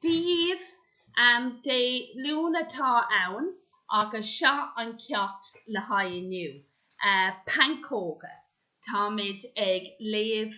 Dia dhaoibh, Dé Luain atá ann agus seo an ceacht le haghaidh inniu, pancóga. Táimid ag léamh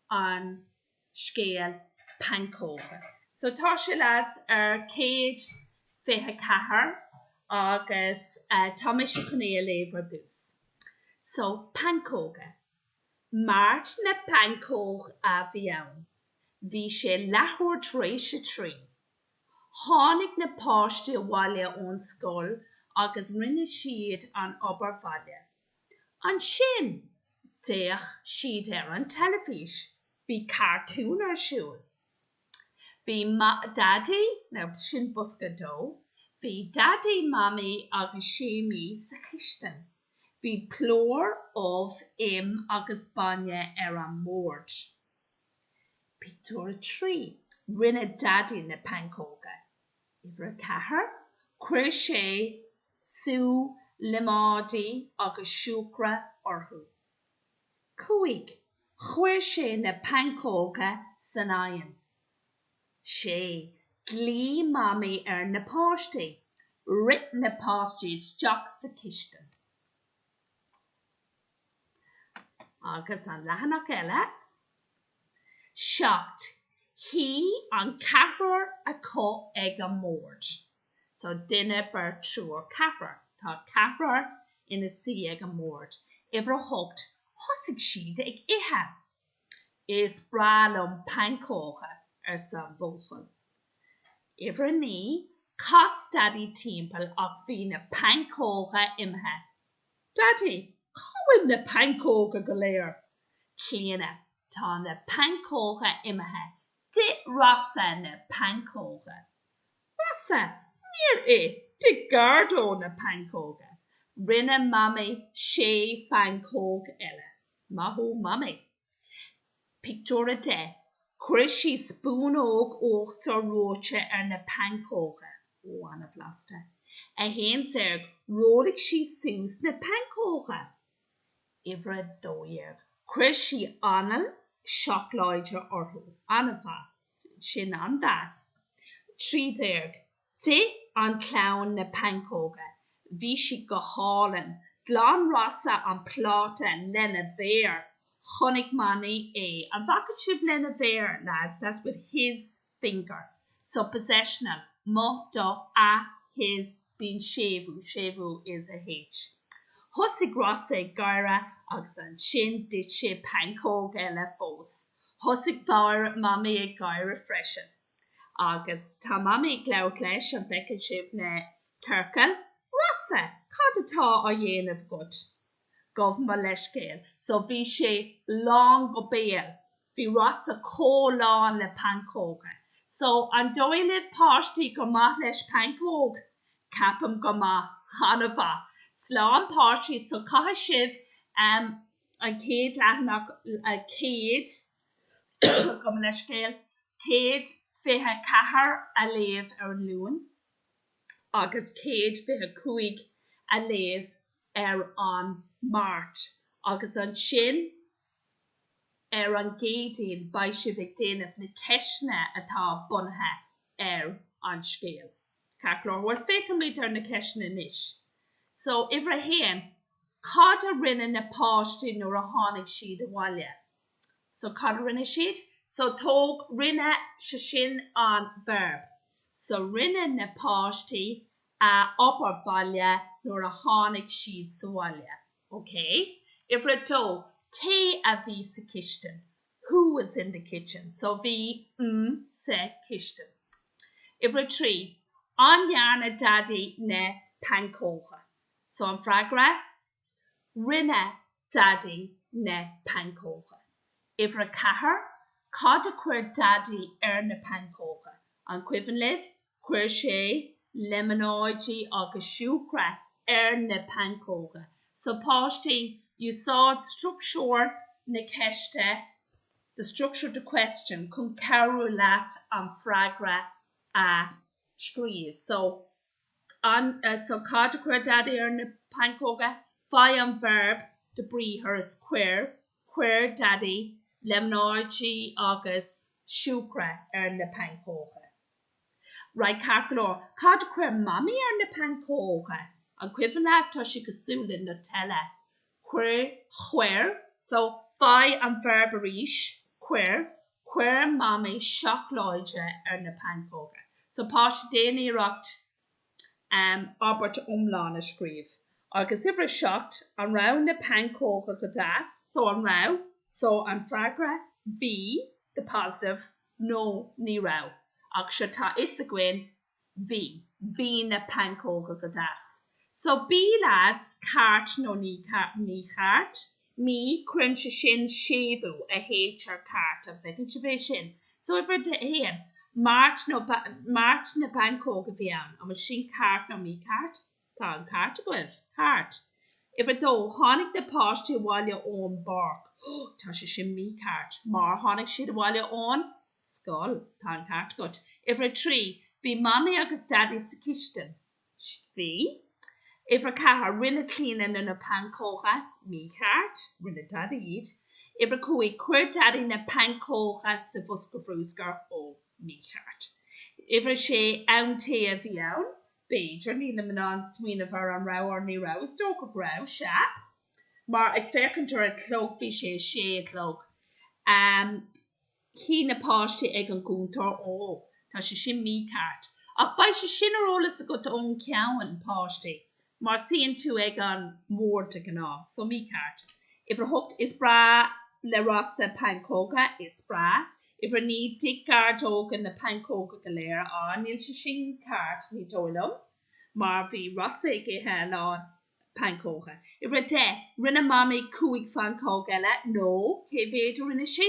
an scéal Pancóga. So tá sé leaids ar céad fiche ceathair agus tá mise chun é a léamh ar dtús. So, Pancóga. Máirt na bPancóg a bhí ann. Bhí sé leathuair tar éis a trí. Tháinig na páistí abhaile ón scoil agus rinne siad an obair bhaile. Ansin d'fhéach siad ar an teilifís. Bhí cartún ar siúl. Bhí Daidí, sin bosca dó, bhí Daidí, Mamaí agus Séimí sa chistin. Bhí plúr, ubh, im agus bainne ar an mbord. Pictiúr 3 Rinne Daidí na pancóga. Uimhir a ceathair, Chuir sé sú líomóide agus siúcra orthu. cúig, Chuir sé na pancóga san oigheann. sé, Ghlaoigh Mamaí ar na páistí. Rith na páistí isteach sa chistin. Agus an leathanach eile? Seacht. Shuigh an ceathrar acu ag an mbord. So duine, beirt, triúr, ceathrar. Tá ceathrar ina suí ag an mbord. Uimhir a hocht, thosaigh siad ag ithe. Is breá liom pancóga, arsa an buachaill. Uimhir a naoi, chas Daidí timpeall ach bhí na pancóga imithe. Daddy, cá bhfuil na pancóga go léir? Clíona, Tá na pancóga imithe. D'ith Rossa na pancóga. Rossa, Níor ith, d'ith Gardo na pancóga. Rinne Mamaí sé phancóg eile. Maith thú Mamaí. Pictiúr 10 Chuir sí spúnóg uachtar reoite ar na pancóga. Ó, an-bhlasta. 11 Rollaigh sí suas na pancóga. Uimhir a dó dhéag Chuir sí anlann seacláide orthu. An-mhaith. Sin an-deas. 13. D'ith an chlann na pancóga. Bhí siad go hálainn. Ghlan Rossa an pláta lena mhéar. Chonaic Mamaí é. An bhfaca sibh lena mhéar, lads? That's with his finger. So, possessional, mo, do, a, his, bíonn séimhiú, séimhiú is a, h. Thosaigh Rossa ag gáire agus ansin d'ith sé pancóg eile fós. Thosaigh Mamaí ag gáire freisin. Agus tá Mamaí ag labhairt leis, an bhfeiceann sibh na ciorcail? Rossa, cad atá á dhéanamh agat? Gabh mo leithscéal. So bhí sé lán go béal. Bhí Rossa chomh lán le pancóga. So an dóigh libh páistí gur maith leis pancóga? Ceapaim gur maith, an-mhaith. So a pháistí, so caithfidh sibh an chéad leathanach, an chéad. Gabh mo leithscéal, 124 a léamh ar an Luan agus 125 a léamh ar an Máirt agus ansin ar an gCéadaoin beidh sibh ag déanamh na ceisteanna atá bunaithe ar an scéal. Ceart go leor, féachfaimid ar na ceisteanna anois. So, uimhir a haon, cad a rinne na páistí nuair a tháinig siad abhaile? so cad a rinne siad? so tóg rinne so sin an verb so rinne na páistí an obair bhaile nuair a tháinig siad sa bhaile, ok? Uimhir a dó, cé a bhí sa chistin? who was in the kitchen? so bhí mm sa chistin. Uimhir a trí, an ndearna daidí na pancóga? so an freagra, Rinne Daidí na pancóga. Uimhir a ceathair, Cad a chuir Daidí ar na pancóga? An cuimhin libh? Chuir sé líomóidí agus siúcra ar na pancóga. So páistí, úsáid struchtúr na ceiste, the structure of the question, chun cabhrú leat an freagra a scríobh. So. So cad a chuir Daidí ar na pancóga? Faigh an verb an briathar, it's Cuir, Chuir Daidí líomóidí agus siúcra ar na pancóga. Right Ceart go leor. Cad a chuir Mamaí ar na pancóga? An cuimhin libh? Tá sé cosúil le Nutella. cuir Chuir so faigh an verb arís cuir Chuir Mamaí seacláid ar na pancóga. So páistí Déan iarracht um abairt iomlán a scríobh agus Uimhir a Seacht An raibh na pancóga go deas? So an raibh? So an freagra Bhí, the positive, Nó Ní raibh. Ach seo tá fhios againn Bhí. Bhí na pancóga go deas. So B leaids, ceart nó mícheart, mí, cuireann sé sin séimhiú an h, ar ceart an bhfeiceann sibh é sin? So uimhir a haon, Máirt na bpancóg a bhí ann, an bhfuil sin ceart nó mícheart? Tá an ceart agaibh. Ceart. Uimhir a dó, tháinig na páistí abhaile ón bpáirc. Tá sé sin mícheart, mar tháinig siad abhaile ón. scoil. Tá an ceart agat. Uimhir a trí, Bhí Mamaí agus Daidí sa chistin. Bhí. Uimhir a ceathair, Rinne Clíona na na pancóga. Mícheart. Rinne Daidí iad. Uimhir a cúig, Chuir Daidí na pancóga sa bhosca bhrúscair. Ó. Mícheart. Uimhir a sé, Am tae a bhí ann. B'fhéidir. Nílim in ann smaoineamh ar an raibh or ní raibh. Is dócha go raibh. Sea. Mar, ag féachaint ar an chlog, bhí sé a sé a chlog. Am. Shuigh na páistí ag an gcuntar. Ó, tá sé sin mícheart. Ach beidh sé sin ar eolas agat ón gceann páistí, mar suíonn tú ag an mbord de ghnáth. So mícheart. Uimhir a hocht, is breá le Rossa pancóga. Is breá. Uimhir a naoi, d'ith Gordó na pancóga go léir. Á, níl sé sin ceart, ní dóigh liom, mar bhí Rossa ag ithe a lán. pancóga. Uimhir a deich, rinne Mamaí cúig phancóg eile, no, cé mhéid a rinne sí?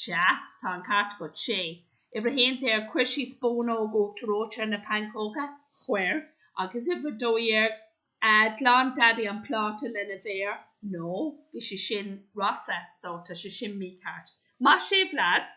Sea, tá an ceart agat, sé. Uimhir a haon déag, chuir sí spónóg uachtar reoite ar na pancóga. Chuir. Agus uimhir a dó dhéag, ghlan Daidí an pláta lena mhéar, no, bhí sé sin, Rossa, so tá sé sin mícheart. Maith sibh, leaids!